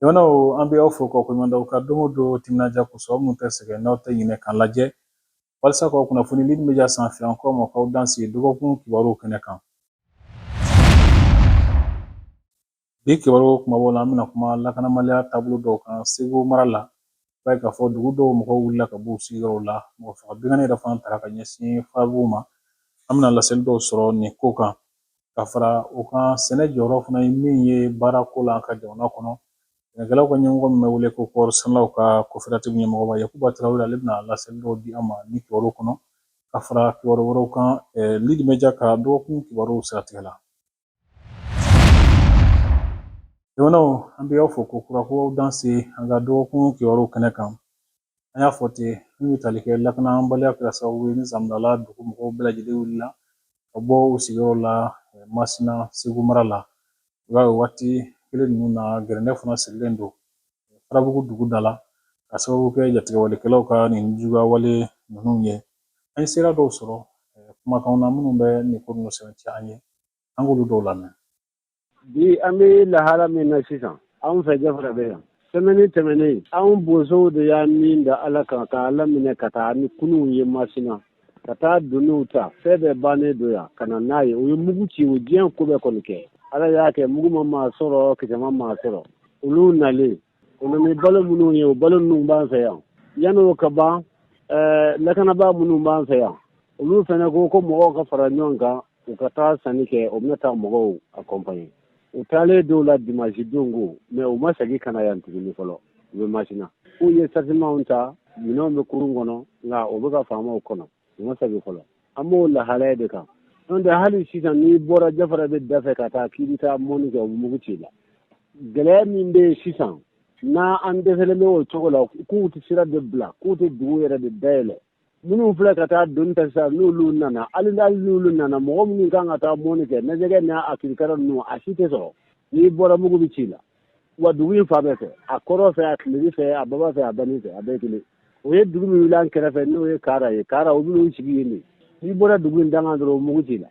Jamanaw an bɛ aw fo k'aw koɲuman dɔn aw ka don o don timinandiya kosɔn aw minnu tɛ sɛgɛn n'aw tɛ ɲinɛ k'an lajɛ walasa k'aw kunnafoni lidi mediya sanfɛ an k'aw ma k'aw dansɛ dɔgɔkun kibaruw kɛnɛ kan Bi kibaruya kunbabaw la an bɛna kuma lakanabaliya taabolo dɔw kan segu mara la i b'a ye k'a fɔ dugu dɔw mɔgɔw wulila ka b'u sigiyɔrɔw la mɔgɔ faga binkanni yɛrɛ fana taara ka ɲɛsin fabu ma an bɛna laseli dɔw sɔrɔ nin ko kan ka fara o kan sɛnɛ jɔyɔrɔ fana ye min ye baarako la an ka jamana kɔnɔ sɛnɛkɛlaw ka ɲɛmɔgɔ min bɛ wele ko kɔɔri sɛnɛlaw ka koperatifu ɲɛmɔgɔba yakuba tarawele ale bɛna laseli dɔw di an ma ni kibaruw kɔnɔ ka fara kibaru wɛrɛw kan lidi mediya ka dɔgɔkun kibaruw siratigɛ la Jamanaw an bɛ aw fo kokura ko aw dansɛ an ka dɔgɔkun kibaruw kɛnɛ kan an y'a fɔ ten min bɛ tali kɛ lakanabaliya kɛra sababu ye ni zamdala dugu mɔgɔw bɛɛ lajɛlen wulila ka bɔ u sigiyɔrɔ la masina segu mara la i b'a ye waati kelen ninnu na gɛrɛntɛ fana sigilen don farabugu dugu da la ka sababu kɛ jatigɛwalekɛlaw ka nijuguyawale ninnu ye an ye seere dɔw sɔrɔ kumakan na minnu bɛ nin ko ninnu sɛmɛntiya a ye an k'olu dɔw lamɛn bi an bɛ lahala min na sisan anw fɛ jafarabɛ yan sɛmɛni tɛmɛnen anw bozow de y'a min da ala kan ka ala minɛ ka taa ni kurunw ye masina ka taa donniw ta fɛn bɛɛ bannen don yan ka na n'a ye u ye mugu ci u diɲɛ ko bɛɛ kɔni kɛ ala y'a kɛ mugu ma maa sɔrɔ kisɛ ma maa sɔrɔ olu nalen O nana ni balo minnu ye o balo ninnu b'an fɛ yan yani o ka ban lakanabaa minnu b'an fɛ yan olu fana ko ko mɔgɔw ka fara ɲɔgɔn kan u ka taa sanni kɛ o bɛna taa mɔgɔw akɔnpaɲe u taalen d'o la dimasi don ko mɛ u ma segin ka na yan tuguni fɔlɔ u bɛ masina u ye sarizeman ta minɛnw bɛ kurun kɔnɔ nka o bɛ ka faamaw kɔnɔ u ma segin fɔlɔ an b'o lahalaya de kan n'o tɛ hali sisan n'i bɔra jafarabɛ dafɛ ka taa k'i bɛ taa mɔni kɛ u mugu c'i la gɛlɛya min bɛ yen sisan na an dɛsɛlen bɛ o cogo la k'u tɛ sira de bila k'u tɛ dugu yɛrɛ de dayɛlɛ minnu filɛ ka taa doni ta sisan n'olu nana hali n'ali n'olu nana mɔgɔ minnu kan ka taa mɔni kɛ na jɛgɛ n'a kirikara ninnu a si tɛ sɔrɔ n'i bɔra mugu bɛ c'i la wa dugu in fan bɛɛ fɛ a kɔrɔn fɛ a tilebin fɛ a baba fɛ a bani fɛ a bɛɛ kelen o ye dugu min wuli an kɛrɛfɛ n'o ye kaara ye kaara o minnu sigi yen de n'i bɔra dugu in dankan dɔrɔn o mugu c'i la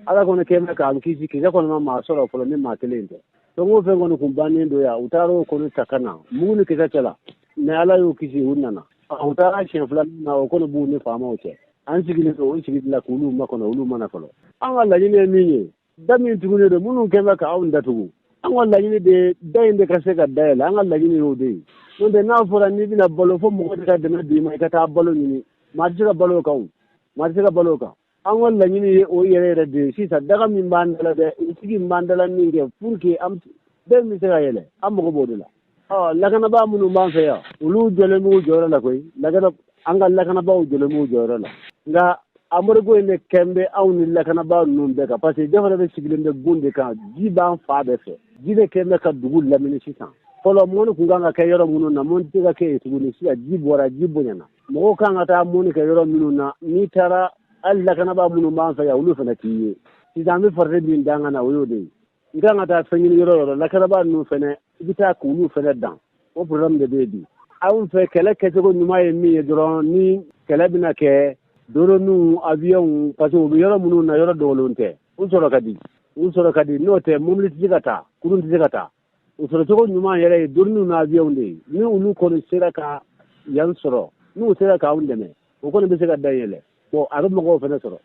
ala kɔni kɛ mɛ k'an kisi kisɛ kɔni ma maa sɔrɔ fɔlɔ ni maa kelen tɛ fɛn o fɛn kɔni tun bannen don yan u taara o kɔni ta ka na mugu ni kisɛ cɛ la mɛ ala y'u kisi u nana u taara siɲɛ fila na o kɔni b'u ni faamaw cɛ an sigilen don o sigi la k'olu makɔnɔ olu ma na fɔlɔ an ka laɲini ye min ye da min tugunen don minnu kɛlen bɛ ka anw datugu an ka laɲini de ye da in de ka se ka dayɛlɛ an ka laɲini y'o de ye n'o tɛ n'a fɔra n'i bɛna balo fo mɔgɔ de ka dɛmɛ d'i ma i ka taa balo ɲini maa tɛ se ka balo o kan o maa tɛ se ka balo o kan an ka laɲini ye o yɛrɛ yɛrɛ de ye sisan daga min b'an dala dɛ sigi min b'an dala min kɛ pour que da in bɛ se ka yɛlɛ an mago b'o de la ɔ lakanabaa minnu b'an fɛ yan olu jɔlen b'u jɔyɔrɔ la koyi lakana an ka lakanabaaw jɔlen b'u jɔyɔrɔ la nka embargo in de kɛn bɛ anw ni lakanabaa ninnu bɛɛ kan parce que jafarabɛ sigilen bɛ gun de kan ji b'an fan bɛɛ fɛ ji de kɛn bɛ ka dugu lamini sisan fɔlɔ mɔni kun kan ka kɛ yɔrɔ minnu na mɔni tɛ ka kɛ yen tuguni sisan ji bɔra ji bonyana mɔgɔw kan ka taa mɔni kɛ yɔrɔ minnu na n'i taara hali lakanabaa minnu b'an fɛ yan olu fana t'i ye sisan an bɛ farati min dan ka na o y'o de ye i kan ka taa fɛn ɲini yɔrɔ yɔrɔ lakanabaa ninnu fɛnɛ i bɛ taa k'olu fɛnɛ dan o problème de bɛ yen bi anw fɛ kɛlɛ kɛcogo ɲuman ye min ye dɔrɔn ni kɛlɛ bɛna kɛ doroniw awiyɔnw parce que u bɛ yɔrɔ minnu na yɔrɔ dogolenw tɛ u sɔrɔ ka di u sɔrɔ ka di n'o tɛ mobili tɛ se ka taa kurun tɛ se ka taa u sɔrɔcogo ɲuman yɛrɛ ye doroniw n'awiyɔnw de ye ni olu kɔni sera ka yan sɔrɔ n'u sera k'anw dɛmɛ o kɔni bɛ se ka da yɛlɛ bon a bɛ mɔgɔw fana sɔrɔ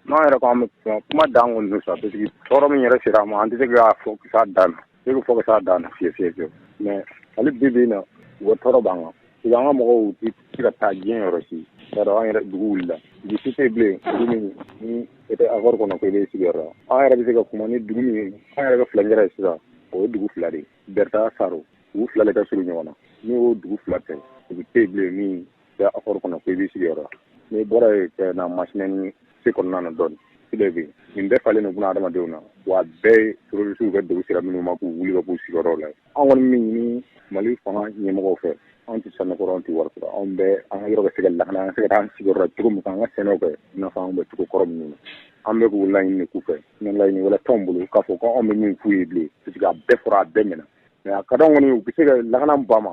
n'an yɛrɛ ko an bɛ kuma kuma dan kɔni don sa parce que tɔɔrɔ min yɛrɛ sera an ma an tɛ se k'a fɔ ka s'a dan na ne bɛ fɔ ka s'a dan na fewu fewu fewu mais hali bi bi in na u ka tɔɔrɔ b'an kan parce que an ka mɔgɔw tɛ se ka taa diɲɛ yɔrɔ si i b'a dɔn an yɛrɛ dugu wulila dugu si tɛ yen bilen dugu min ni e tɛ accord kɔnɔ ko i b'i sigiyɔrɔ la an yɛrɛ bɛ se ka kuma ni dugu min ye an yɛrɛ ka furancɛ ye sisan o ye dugu fila de ye berta saro dugu fila de ka surun ɲɔgɔn na n'o dugu fila tɛ dugu tɛ yen bilen min bɛ akɔri kɔnɔ ko i b'i sigiyɔrɔ n'i bɔra yen ka na masina ni segu kɔnɔna na dɔɔni sile bi nin bɛɛ falen nin kuna adamadenw na wa bɛɛ terorisiw ka dogo sira minnu ma k'u wuli ka b'u sigiyɔrɔw la an kɔni min ɲini mali fanga ɲɛmɔgɔw fɛ anw tɛ sanu ko rɔ anw tɛ wari ko rɔ anw bɛ an ka yɔrɔ ka se ka lakana an ka se ka an sigiyɔrɔ cogo min an ka sɛnɛw kɛ i n'a fɔ anw bɛ cogo kɔrɔ minnu na an bɛ k'o laɲini k'u fɛ ni laɲini wɛrɛ t'anw bolo k'a fɔ ko anw bɛ min f'u ye bilen parce que a bɛɛ fɔra a bɛɛ mɛna mais a ka d'anw kɔni u bɛ se ka lakana ba ma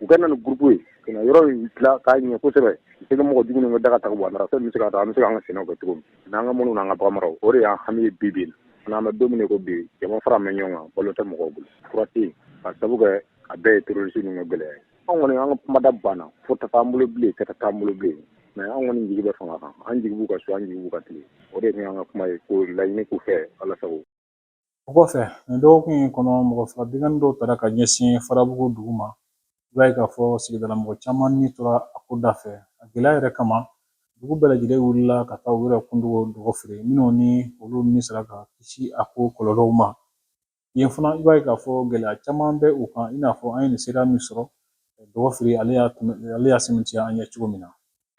u ka na ni groupe ye ka yɔrɔ in dila k'a ɲɛ kosɛbɛ se ka mɔgɔ dumuni bɛ daga ta bɔ a se bɛ se ka taa an bɛ se an ka sɛnɛ kɛ cogo min n'an ka mɔni an ka baganmara o de y'an hami ye bi bi in n'an bɛ dumuni ko bi jama faralen ɲɔgɔn kan balo tɛ mɔgɔw bolo fura tɛ ka sabu kɛ a bɛɛ ye terorisi ninnu gɛlɛya ye an kɔni an ka kumada banna fɔta t'an bolo bilen kɛta t'an bolo bilen mais an kɔni jigi bɛ fanga kan an jigi b'u kan su an jigi b'u kan tile o de tun an ka kuma ye k'o laɲini u fɛ ala sago O kɔfɛ nin dɔgɔkun in kɔnɔ mɔgɔ fila binkanni dɔw tara ka ɲɛsin farabugu dugu ma i b'a ye k'a fɔ sigidala mɔgɔ caman ni tora a ko da fɛ a gɛlɛya yɛrɛ kama dugu bɛɛ lajɛlen wulila ka taa u yɛrɛ kun dogo dɔgɔfiri minnu ni olu ni sera ka kisi a ko kɔlɔlɔw ma yen fana i b'a ye k'a fɔ gɛlɛya caman bɛ u kan i n'a fɔ an ye nin seereya min sɔrɔ dɔgɔfiri ale y'a ale y'a sɛmɛntiya an ɲɛ cogo min na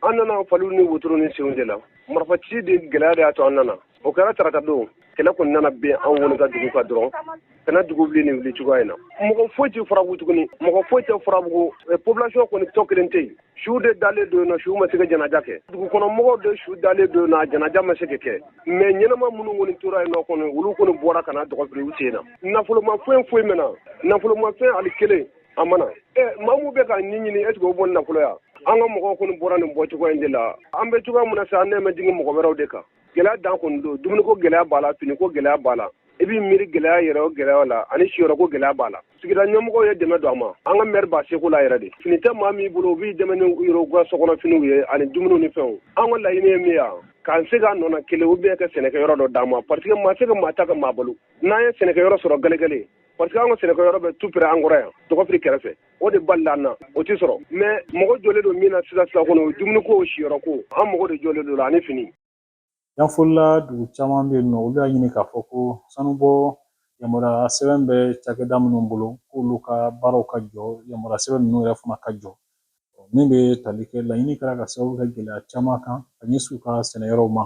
an nana faliw ni wotoro ni senw de la marifa ci de gɛlɛya de y'a to an nana o kɛra tarata don kɛlɛ kɔni nana bin an kɔni ka dugu kan dɔrɔn ka na dugu wuli nin wuli cogoya in na mɔgɔ foyi tɛ farabugu tuguni mɔgɔ foyi tɛ farabugu eh, population kɔni tɔ kelen tɛ yen su de dalen don yen nɔ su ma se ka janaja kɛ dugu kɔnɔ mɔgɔw de su dalen don yen nɔ janaja ma se ka kɛ mais ɲɛnama minnu kɔni tora yen nɔ kɔni olu kɔni bɔra ka na dɔgɔfiri u sen na nafolomafɛn foyi ma na nafolomafɛn ali kelen a ma na maa min bɛ ka ni ɲini est-ce que o bɔ nafolo yan an ka mɔgɔw kɔni bɔra nin bɔ cogoya in de la an bɛ cogoya min na sa an nalen bɛ jigin mɔgɔ wɛrɛw de kan gɛlɛya dan kɔni don dumuni ko gɛlɛya b'a la fini ko gɛlɛya b'a la i b'i miiri gɛlɛya yɛrɛ o gɛlɛya la ani siyɔrɔko gɛlɛya b'a la sigida ɲɛmɔgɔw ye dɛmɛ don a ma an ka mɛri b'a seko la yɛrɛ de fini tɛ maa min bolo u b'i dɛmɛ ni u yɛrɛw ka sokɔnɔfiniw ye ani dumuniw ni fɛnw an ka laɲini ye min yan k'an segin an nɔ na kelen u bɛ ka sɛnɛkɛyɔrɔ dɔ d'an ma parce que maa se ka maa ta ka maa balo n'an ye sɛnɛkɛyɔrɔ sɔrɔ gɛlɛgɛlɛ parce que an ka sɛnɛkɛ yɔrɔ bɛ tupere an kɔrɔ yan dɔgɔfiri kɛrɛfɛ o de balila an na o tɛ sɔrɔ mais mɔgɔ jɔlen don min na sisan sisan kɔnɔ o dumuni ko siyɔrɔ ko an mɔgɔ de jɔlen don la ani fini yanfolila dugu caman bɛ yen nɔ olu y'a ɲini k'a fɔ ko sanubɔ yamaruya sɛbɛn bɛ cakɛda minnu bolo k'olu ka baaraw ka jɔ yamaruya sɛbɛn ninnu yɛrɛ fana ka jɔ min bɛ tali kɛ laɲini kɛra ka sababu kɛ gɛlɛya caman kan ka ɲɛsin u ka sɛnɛyɔrɔw ma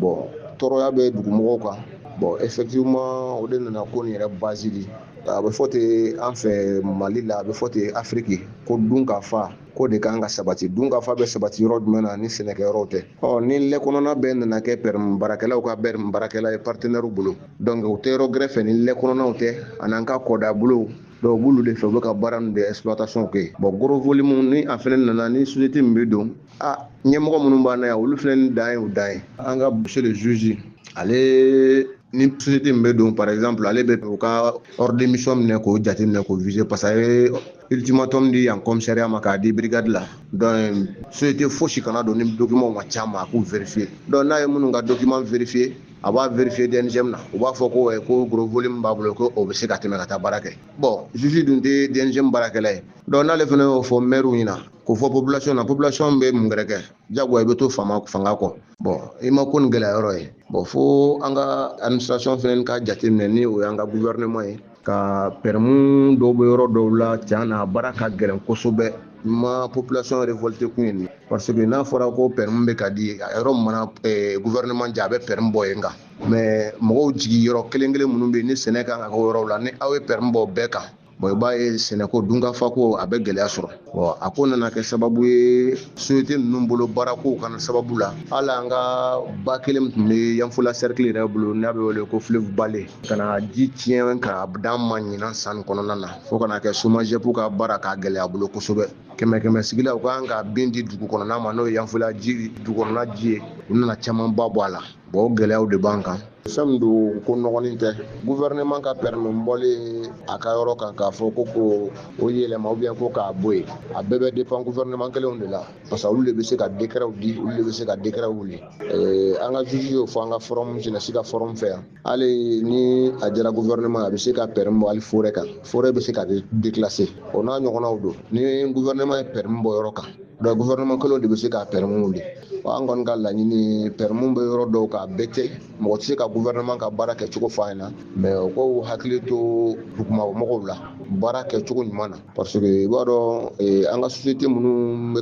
bɔn tɔɔrɔya bɛ dugumɔgɔw kan bɔn effectivement o de nana ko nin yɛrɛ basisiri a bɛ fɔ ten an fɛ mali la a bɛ fɔ ten afiriki ko dunkafa ko de kan ka sabati dunkafa bɛ sabati yɔrɔ jumɛn na ni sɛnɛkɛyɔrɔ tɛ ɔ ni lɛ kɔnɔna bɛɛ nana kɛ pɛ baarakɛlaw ka bɛ baarakɛla ye partenaire bolo donc u tɛ yɔrɔ gɛrɛ fɛ ni lɛ kɔnɔw tɛ ani an ka kɔda bolo dɔw b'olu de fɛ u bɛ ka baara de sous-traitance kɛ bɔn gros volume minnu ni a fana nana ni société min bɛ don a ɲɛmɔgɔ minnu b'a na yan olu filɛ ni dan ye u dan ye an ka monsieur le juge ale ni société min bɛ don par exemple ale bɛ u ka ordre de mission minɛ k'o jateminɛ k'o viser parce que a ye ultimatum di yan commissariat ma k'a di brigade la donc société fosi kana don ni document ma ca ma a k'u vérifier donc n'a ye minnu ka document vérifier a b'a vérifier DNGM na u b'a fɔ ko ko gros volume b'a bolo ko o bɛ se ka tɛmɛ ka taa baara kɛ bon juge dun tɛ DNGM baarakɛla ye donc n'ale fana y'o fɔ maire ɲɛna ko fɔ population na population bɛ mun gɛrɛ kɛ jagoya i bɛ to fama fanga kɔ bɔn i ma ko nin gɛlɛya yɔrɔ ye bɔn fo an ka administration fɛnɛ ka jate minɛ ni o y'an ka gouvernement ye ka pɛrɛmu dɔw bɛ yɔrɔ dɔw la tiɲɛ na baara ka gɛlɛn kosɛbɛ i ma population révolté kun ye nin parce que n'a fɔra ko pɛrɛmu bɛ ka di a yɔrɔ min na eh, gouvernement jɛ a bɛ pɛrɛmu bɔ yen kan mais mɔgɔw jigi yɔrɔ kelen kelen minnu bɛ yen ni sɛnɛ kan ka kɛ yɔrɔw la ni aw ye pɛrɛmu bɔ bɛɛ kan bon i b'a ye sɛnɛko dunkafako a bɛ gɛlɛya sɔrɔ bon a ko nana kɛ sababu ye sosiyete ninnu bolo baarakow kana sababu la hali an ka ba kelen min tun bɛ yanfola sɛrikili yɛrɛ bolo n'a bɛ wele ko fleuve bale ka na ji tiɲɛ ka dan ma ɲinan san kɔnɔna na fo ka na kɛ somajɛpu ka baara k'a gɛlɛya bolo kosɛbɛ kɛmɛ kɛmɛ sigi la u kan ka min di dugu kɔnɔna ma n'o ye yanfola ji dugu kɔnɔna ji ye u nana camanba bɔ a la Bon o gɛlɛyaw de b'an kan fɛn min don ko mɔgɔnin tɛ gouvernement ka permis bɔlen a ka yɔrɔ kan k'a fɔ ko ko o yɛlɛma ou bien ko k'a bɔ yen a bɛɛ bɛ dépend gouvernement kelenw de la parce que olu de bɛ se ka décretw di olu de bɛ se ka décretw wuli eh, an ka juge y'o fɔ an ka forum jeunesse ka forum fɛ yan hali ni a diyara gouvernement a bɛ se ka permis bɔ hali forêt kan forêt bɛ se ka déclasser o n'a ɲɔgɔnnaw donc ni gouvernement ye permis bɔ yɔrɔ kan Donc gouvernement kelen de bɛ se ka permis wuli an kɔni ka laɲini permis bɛ yɔrɔ dɔw kan peut-être mɔgɔ tɛ se ka gouvernement ka baara kɛ cogo fɔ a ɲɛna mais u k'u hakili to dugumɔgɔw la baara kɛ cogo ɲuman na parce que i b'a dɔn an ka société minnu bɛ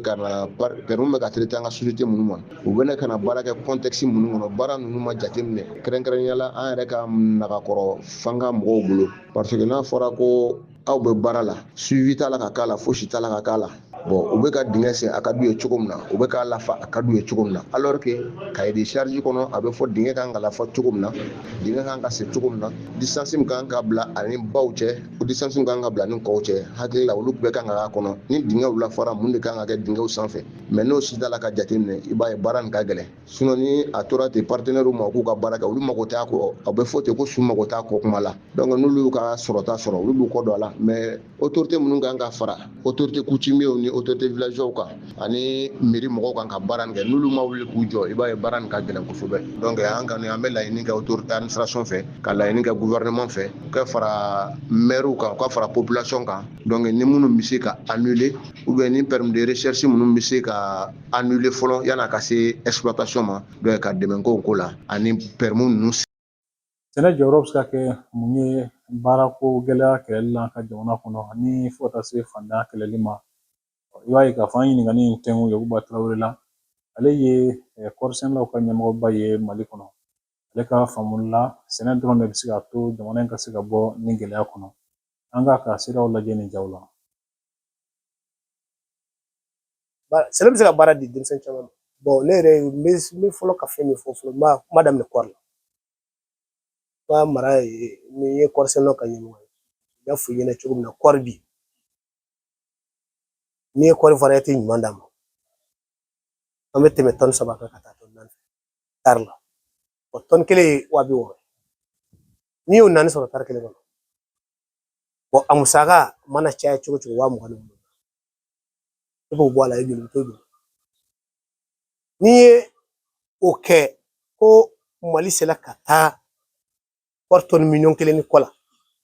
permis bɛ ka di an ka société minnu ma u bɛ na ka baara kɛ contexte minnu kɔnɔ baara ninnu ma jateminɛ kɛrɛnkɛrɛnnenya la an yɛrɛ ka nakɔrɔ fanga mɔgɔw bolo parce que n'a fɔra ko aw bɛ baara la suivi t'a la ka k'a la fosi t'a la ka k'a la bon u bɛ ka dingɛ sen a ka d'u ye cogo min na u bɛ k'a lafa a ka d'u ye cogo min na alors que cahier de charge kɔnɔ a bɛ fɔ dingɛ kan ka lafa cogo min na dingɛ kan ka sen cogo min na distance min kan ka bila a ni baw cɛ o distance min kan ka bila a ni kɔw cɛ hakili la olu bɛɛ kan ka k'a kɔnɔ ni dingɛw lafara mun de kan ka kɛ dingɛw sanfɛ mais n'o si t'a la ka jateminɛ i b'a ye baara nin ka gɛlɛn sinon ni a tora ten partenairew ma k'u ka baara kɛ olu mago t'a kɔ a bɛ fɔ ten ko su mago t'a kɔ kuma la donc n'olu y'u ka sɔrɔta sɔrɔ olu b'u kɔ don a la mais autorité minnu kan ka fara autorité coutumiers ni autorité villageois kan ani mairie mɔgɔw kan ka baara nin kɛ n'olu ma wuli k'u jɔ i b'a ye baara nin ka gɛlɛn kosɛbɛ donc an kɔni an bɛ laɲini kɛ autorité administration fɛ ka laɲini kɛ gouvernement fɛ u ka fara maires kan u ka fara population kan donc ni minnu bɛ se ka annuler ou bien ni permis de recherche minnu bɛ se ka annuler fɔlɔ yan'a ka se exploitation ma donc ka dɛmɛn k'o ko la ani permis ninnu sɛnɛ jɔyɔrɔ bɛ se ka kɛ mun ye baarako gɛlɛya kɛlɛli la an ka jamana kɔnɔ ani fo ka taa se fantanya kɛlɛli ma i b'a ye k'a fɔ an ɲininkali in tɛnkun yakuba tarawele la ale ye eh, kɔɔrisɛnɛlaw ka ɲɛmɔgɔba ye mali kɔnɔ ale ka faamuli la sɛnɛ dɔrɔn de bɛ se k'a to jamana in ka se ka bɔ nin gɛlɛya kɔnɔ an k'a ka siraw lajɛ nin jaw la sɛnɛ bɛ se ka baara di denmisɛn caman ma ne yɛrɛ n bɛ n bɛ fɔlɔ ka fɛn min fɔ fɔlɔ n b'a kuma daminɛ kɔɔri la n ka mara ye ni n ye kɔɔrisɛnɛnaw ka ɲɛmɔgɔ ye n y'a fɔ i ɲɛna cogo min na kɔɔri bi n'i ye kɔɔri variété ɲuman d'an ma an bɛ tɛmɛ tɔni saba kan ka taa tɔni naani tari la o tɔni kelen ye wa bi wɔɔrɔ n'i y'o naani sɔrɔ tari kelen kɔnɔ a musaka mana caya cogo o cogo waa mugan ni duuru i b'o bɔ a la i joli to joli n'i ye o kɛ ko mali sera ka taa kɔɔri tɔni miliyɔn kelen ni kɔ la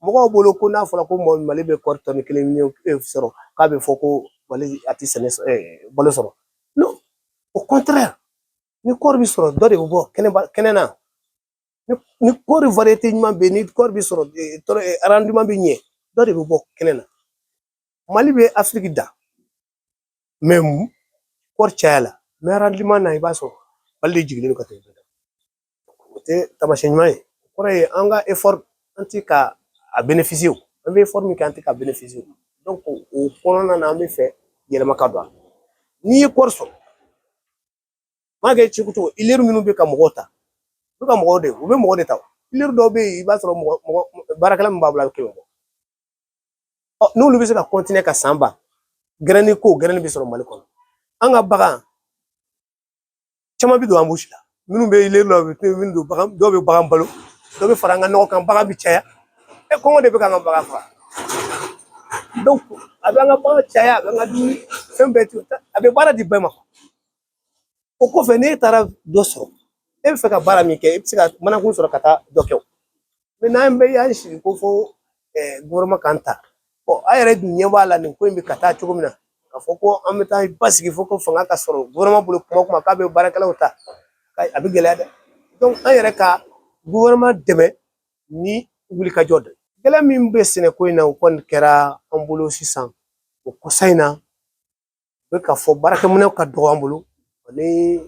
mɔgɔw bolo ko n'a fɔra ko mali bɛ kɔɔri tɔni kelen miliyɔn eh, sɔrɔ k'a bɛ fɔ ko mali a tɛ sɛnɛ eh, balo sɔrɔ non au contraire ni kɔɔri bɛ sɔrɔ dɔ de bɛ bɔ kɛnɛ na ni kɔɔri variyete ɲuman bɛ yen ni kɔɔri bɛ sɔrɔ arandiman bɛ ɲɛ dɔ de bɛ bɔ kɛnɛ na mali bɛ afiriki dan kɔɔri caya la mɛ arandiman na i b'a sɔrɔ mali de jigilen don ka tɛmɛ o tɛ taamasiyɛn ɲuman ye o kɔrɔ ye an ka an ti ka a bɛ o an bɛ min kɛ an tɛ ka o kɔnɔna na an bɛ fɛ yɛlɛma ka don a la n'i ye kɔɔri sɔrɔ M'a kɛ cogo o cogo huilerie minnu bɛ ka mɔgɔ ta u ka mɔgɔw de u bɛ mɔgɔ de ta huilerie dɔw bɛ yen i b'a sɔrɔ mɔgɔ baarakɛla min b'a bolo a bɛ kɛmɛ bɔ n'olu bɛ se ka kɔntine ka san ban gɛrɛni ko gɛrɛni bɛ sɔrɔ mali kɔnɔ an ka bagan caman bɛ don anbusi la minnu bɛ la u bɛ don bagan dɔw bɛ bagan balo dɔw bɛ fara an ka nɔgɔ kan bagan bɛ caya e kɔngɔ de bɛ k'an ka bagan faga dɔnki a bɛ an ka bagan caya a bɛ an ka dumuni fɛn bɛɛ to a bɛ baara di bɛɛ ma o kɔfɛ n'e taara dɔ sɔrɔ e bɛ fɛ ka baara min kɛ i bɛ se ka manakun sɔrɔ ka taa dɔ kɛ o mɛ n'an bɛɛ y'an sigi ko fo gofɛrɛnaman k'an ta a yɛrɛ dun ɲɛ b'a la nin ko in bɛ ka taa cogo min na k'a fɔ ko an bɛ taa basigi fo ko fanga ka sɔrɔ gofɛrɛnaman bolo kuma o kuma k'a bɛ baarakɛlaw ta a bɛ gɛlɛya dɛ an yɛrɛ ka gofɛrɛnaman dɛmɛ ni wulikajɔ dɔ ye gɛlɛya min bɛ sɛnɛko in na o kɔni kɛra an bolo sisan o kɔsa in na u bɛ ka fɔ baarakɛminɛnw ka dɔgɔ an bolo ani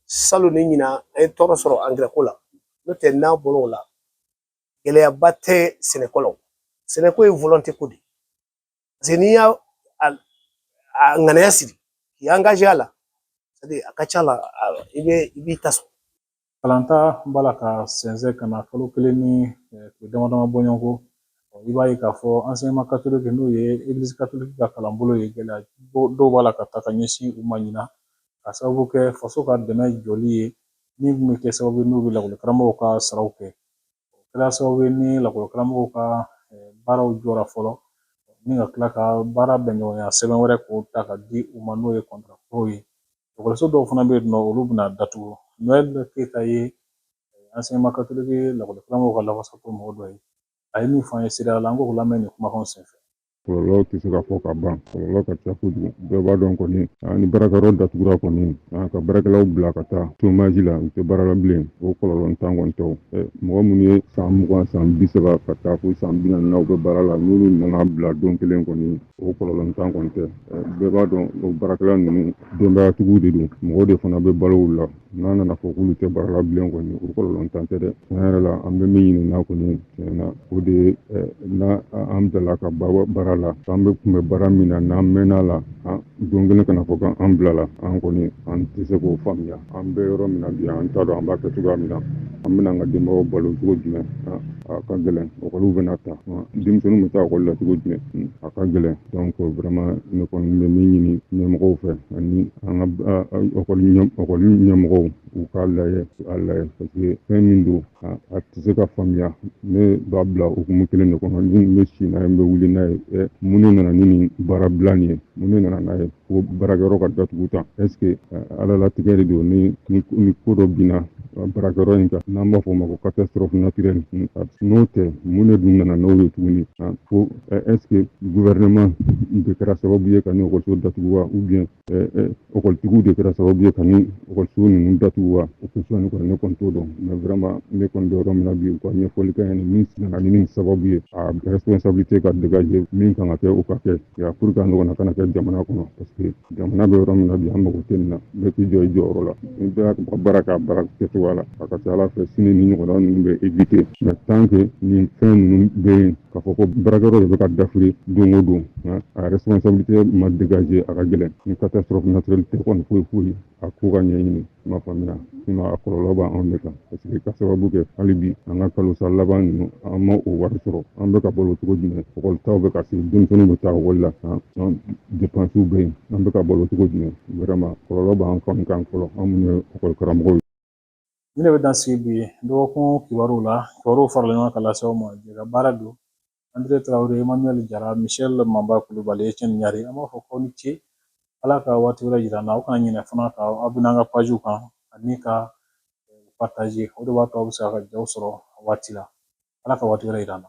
salon ni ɲinan an ye tɔɔrɔ sɔrɔ angirɛko la n'o tɛ n'a bɔr'o la gɛlɛyaba tɛ sɛnɛko la sɛnɛko ye volonté ko de ye n'i y'a ŋaniya siri k'i angaje a la a ka ca la i bɛ i b'i ta sɔrɔ kalanta b'a la ka sɛnsɛn ka na kalo kelen ni eh, tile dama dama bɔɲɔgɔn ko i b'a ye k'a fɔ ansɛɲɛman katoliki n'o ye egilizi katoliki ka kalanbolo ye gɛlɛya dɔw b'a la ka ta ka ɲɛsin u ma ɲinan ka sababu kɛ faso ka dɛmɛ jɔli ye min bɛ kɛ sababu n'u bɛ lakɔli karamɔgɔw ka saraw kɛ o kɛra sababu ye ni lakɔli karamɔgɔw ka baaraw jɔra fɔlɔ ni ka tila ka baara bɛn ɲɔgɔnya sɛbɛn wɛrɛ k'o ta ka di u ma n'o ye kɔntaraw ye ekɔliso dɔw fana bɛ yen n'olu bɛna datugu n'o ye keyita ye ansɛɲɛman katoliki lakɔli karamɔgɔw ka lafasako mɔgɔ dɔ ye a ye min fɔ an ye sira la an k'o lamɛn nin kumakan senfɛ kɔlɔlɔ tɛ se ka fɔ ka ban kɔlɔlɔ ka ca kojugu bɛɛ b'a dɔn kɔni ni baarakɛyɔrɔ datugura kɔni ka baarakɛlaw bila ka taa chômage la u tɛ baara la bilen o kɔlɔlɔntan kɔni tɛ mɔgɔ minnu ye san mugan san bi saba ka taa fo san bi naani na u bɛ baara la n'olu nana bila don kelen kɔni o kɔlɔlɔntan kɔni tɛ bɛɛ b'a dɔn o baarakɛla ninnu denbayatigiw de don mɔgɔ de fana bɛ balo u la n'a nana fɔ k'olu tɛ baara la bilen kɔni o kɔlɔlɔntan tɛ dɛ tiɲɛ yɛrɛ la an bɛ min ɲini n'a kɔni tiɲɛ na o de ye n'a an bilala ka baara la an bɛ kun bɛ baara min na n'an mɛnna a la don kelen ka na a fɔ k' an bilala an kɔni an tɛ se k'o faamuya an bɛ yɔrɔ min na bi an t'a dɔn an b'a kɛ cogoya min na an bɛna an ka denbaw balo cogo jumɛn a ka gɛlɛn ekɔliw bɛna ta denmisɛnninw bɛ taa ekɔli la cogo jumɛn a ka gɛlɛn donc vraiment ne kɔni bɛ min ɲini ɲɛmɔgɔw fɛ ani an ka ekɔli ɲɛmɔgɔw u k'a lajɛ a lajɛ parce que fɛn min don a tɛ se ka faamuya ne b'a bila hukumu kelen de kɔnɔ ne bɛ si n'a ye n bɛ wuli n'a ye ɛ mun de nana ni nin baarabila nin ye mun de nana n'a ye ko baarakɛyɔrɔ ka datugu tan est ce que ala latigɛ de don ni nin ko dɔ binna baarakɛyɔrɔ in kan an b'a fɔ o ma ko catastrophe naturelle n'o tɛ mun de dun nana n'o ye tuguni est ce que gouvernement de kɛra sababu ye ka nin ekɔliso datugu wa ou bien ekɔlitigiw de kɛra sababu ye ka nin ekɔliso ninnu datugu wa o kosɔn kɔni ne kɔni t'o dɔn mais vraiment ne kɔni bɛ yɔrɔ min na bi u ka ɲɛfɔli kɛ an ɲɛna min nana ni sababu ye responsabilité ka dégager min kan ka kɛ o ka kɛ pour que nin ɲɔgɔnna kana kɛ jamana kɔnɔ jamana bɛ yɔrɔ min na bi an mago tɛ nin na bɛɛ k'i jɔ i jɔyɔrɔ la ni bɛɛ y'a ka baara k'a baara kɛcogoya la a ka ca ala fɛ sini nin ɲɔgɔnna ninnu bɛ éviter mais tant que nin fɛn ninnu bɛ yen k'a fɔ ko baarakɛyɔrɔ de bɛ ka dafiri don o don a responsabilité ma dégager a ka gɛlɛn ni catastrophe naturelle tɛ kɔni foyi foyi a k'u ka ɲɛɲini ma faamuyala sinon a kɔlɔlɔ b'anw de kan parce que ka sababu kɛ hali bi an ka kalosara laban ninnu an ma o wari sɔrɔ an bɛ ka balo cogo jumɛn ekɔlitaw bɛ ka se denmisɛnninw bɛ taa ekɔli la an depansiw bɛ yen an bɛ ka balo cogo jumɛn vraiment kɔlɔlɔ b'an kan kan fɔlɔ an minnu ye ekɔli karamɔgɔw ye Nin de bɛ dan sigi bi dɔgɔkun kibaruw la kibaruw farala ɲɔgɔn kan ka lase aw ma jɛkabaara don an tɛ tarawele emmanuel jara michel manba kulubali cɛ ni ɲari an b'a fɔ aw ni ce ala ka waati wɛrɛ jira an na aw kana ɲinɛ fana ka abɔne an ka pajiw kan ani ka pataze o de b'a to aw bɛ se ka jaw sɔrɔ a waati la ala ka waati wɛrɛ jira an na